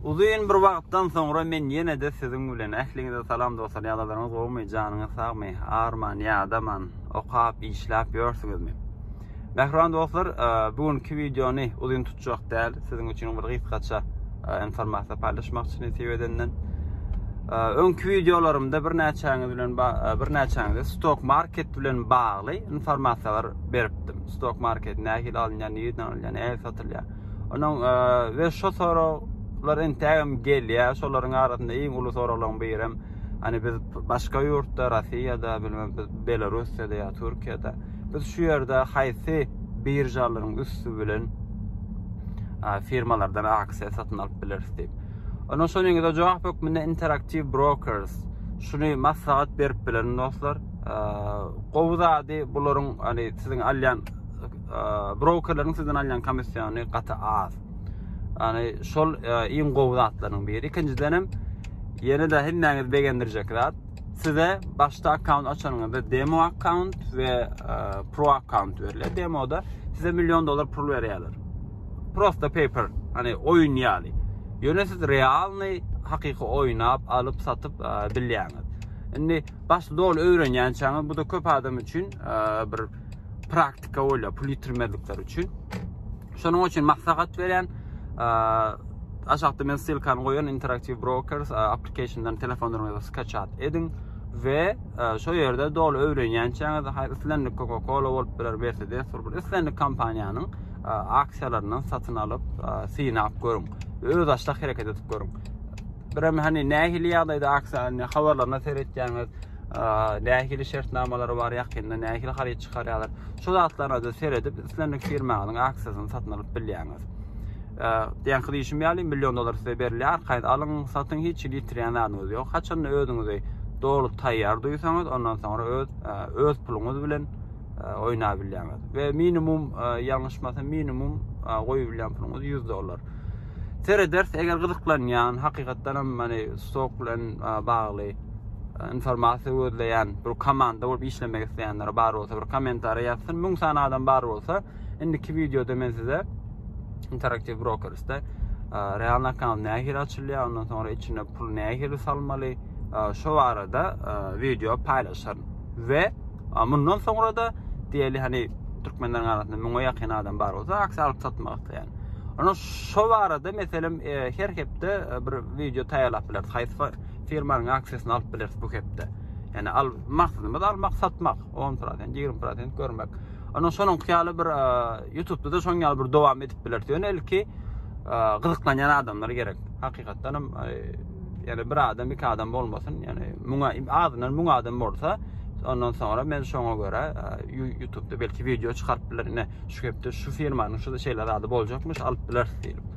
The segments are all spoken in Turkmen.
Uzyn bir wagtdan soňra men ýene-de siziň bilen. Ähliňize salam dostlar, ýagdaýlaryňyz gowumy, janyňyz sagmy, arman, ýadaman, okap, işläp ýörsüňizmi? Mähriban dostlar, e, bu günki wideony uzyn tutjak däl, siziň üçin bir gysgaça e, informasiýa paýlaşmakçy nesip edenden. E, öňki wideolarymda birnäçäňiz bilen birnäçäňize stok market bilen bagly informasiýalar beripdim. Stok market nähili alynýar, nireden alynýar, nähili satylýar? Onuň we şu soraglar entegem gelýär. Şolaryň arasynda iň uly soraglaryň biri hem hani biz başga ýurtda, Russiýada, bilmem biz Belarussiýada ýa Türkiýada biz şu ýerde haýsy biržalaryň üsti bilen firmalardan aksiýa satyn alyp bileris diýip. Onuň şonuň ýa-da jogap hökmünde Interactive Brokers şuny maslahat berip bilerin dostlar. Gowy zady bularyň hani siziň alýan Brokerleriň sizden alýan komissiony gaty az. Ýani şol iň gowy zatlaryň biri. Ikinjiden hem ýene-de hemmäňizi begendirjek zat. Size başda akkaunt açanyňyzda demo akkaunt we pro akkaunt berilýär. Demoda size million dollar pul berýärler. Prosta paper, hani oýun ýaly. Ýöne siz realny hakyky oýnap, alyp, satyp bilýäňiz. Indi başda doly öwrenýänçäňiz, bu da köp adam üçin bir praktika bolýar pul ýitirmezlikleri üçin. Şonuň üçin maslahat berýän aşakda men ssylkany goýan Interactive Brokers applicationdan telefonlaryňyza skaçat ediň we şo ýerde doly öwrenýänçäňiz haýsy islendik Coca-Cola bolup biler, Mercedes bolup biler, islendik kompaniýanyň aksiýalaryndan satyn alyp, synap görüň. Öz aşda hereket edip görüň. Birem hani nähili ýagdaýda aksiýanyň habarlaryna seretýäňiz, nähili şertnamalary bar, ýakynda nähili haryt çykarýarlar. Şu zatlara-da seredip, islendik firmanyň aksiýasyny satyn alyp bilýäňiz. Diýen kyd işim ýaly, million dollar size berilýär, arkaýyn alyň, satyň, hiç hili ýitirýän zadyňyz ýok. Haçan özüňizi doly taýýar duýsaňyz, ondan soňra öz öz puluňyz bilen oýnap bilýäňiz. We minimum, ýalňyşmasam, minimum goýup bilýän puluňyz 100 dollar. Serederis, eger gyzyklanýan, hakykatdan hem, hani, stok bilen bagly, informasiýa gözleýän bir komanda bolup işlemek isleýänler bar bolsa bir kommentariýa ýazsyn. Müň sany adam bar bolsa, indiki wideoda men size Interactive Brokers'da realny akkaunt nähili açylýar, ondan soňra içine pul nähili salmaly, şu barada wideo paýlaşaryn. We mundan soňra da diýeli hani türkmenleriň arasynda müňe ýakyn adam bar bolsa, aksiýa alyp satmak isleýän. Ana şu barada meselem her hepde bir wideo taýýarlap bileris. Haýsy Firmanyň aksiýasyny alyp bileris bu hepde. Yani al, maksadymyz almak, satmak. 10 prosent, 20 prosent görmek. Onun sonun kıyalı bir e, YouTube'da da son yalı bir devam edip bilir. Yani ilki e, gızıklanyan adamlar gerek. Hakikaten e, yani bir adam, iki adam olmasın. Yani muna, adından muna adam olsa ondan sonra men şoňa görä e, YouTube'da belki video çykaryp biler. Ine şu hepde şu firmanyň şu şeyler adı boljakmyş alyp biler diýip.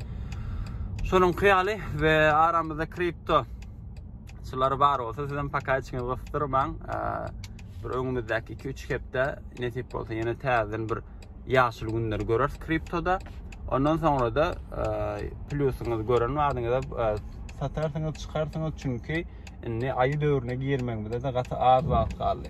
Şonuň kyýaly we aramyzda kripto çylar bar bolsa sizem pakaçyňyzy gysdyrmaň. Bir öňümizdäki 2-3 hepde nesip bolsa ýene täzeden bir ýaşyl günleri göreris kriptoda. Ondan sonra da plusiniz gören wagtyňyzda satarsyňyz, çykarsyňyz çünki indi aýy döwrüne girmegimize de gaty az wagt galdy.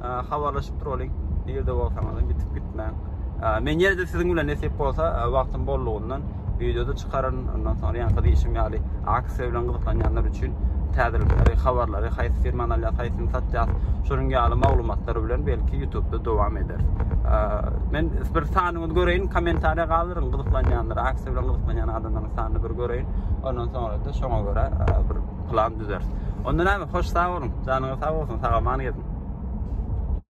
habarlaşyp duralyň nirde bolsaňyz gitip gitmäň men ýene de siziň bilen nesip bolsa wagtym bollugyndan wideoda çykaryn ondan soňra ýaňky diýşim ýaly aksiýa bilen gyzyklanýanlar üçin täzelikleri habarlary haýsy firmany alýas haýsyny satýas şonuň ýaly maglumatlar bilen belki youtubeda dowam eder men bir sanyňyzy göreýin kommentariýa galdyryň gyzyklanýanlar aksiýa bilen gyzyklanýan adamlaryň sanyny bir göreýin ondan soňra da şoňa görä bir plan düzeris. Onda näme, hoş sag boluň, janyňyz sag bolsun, sag-aman geziň.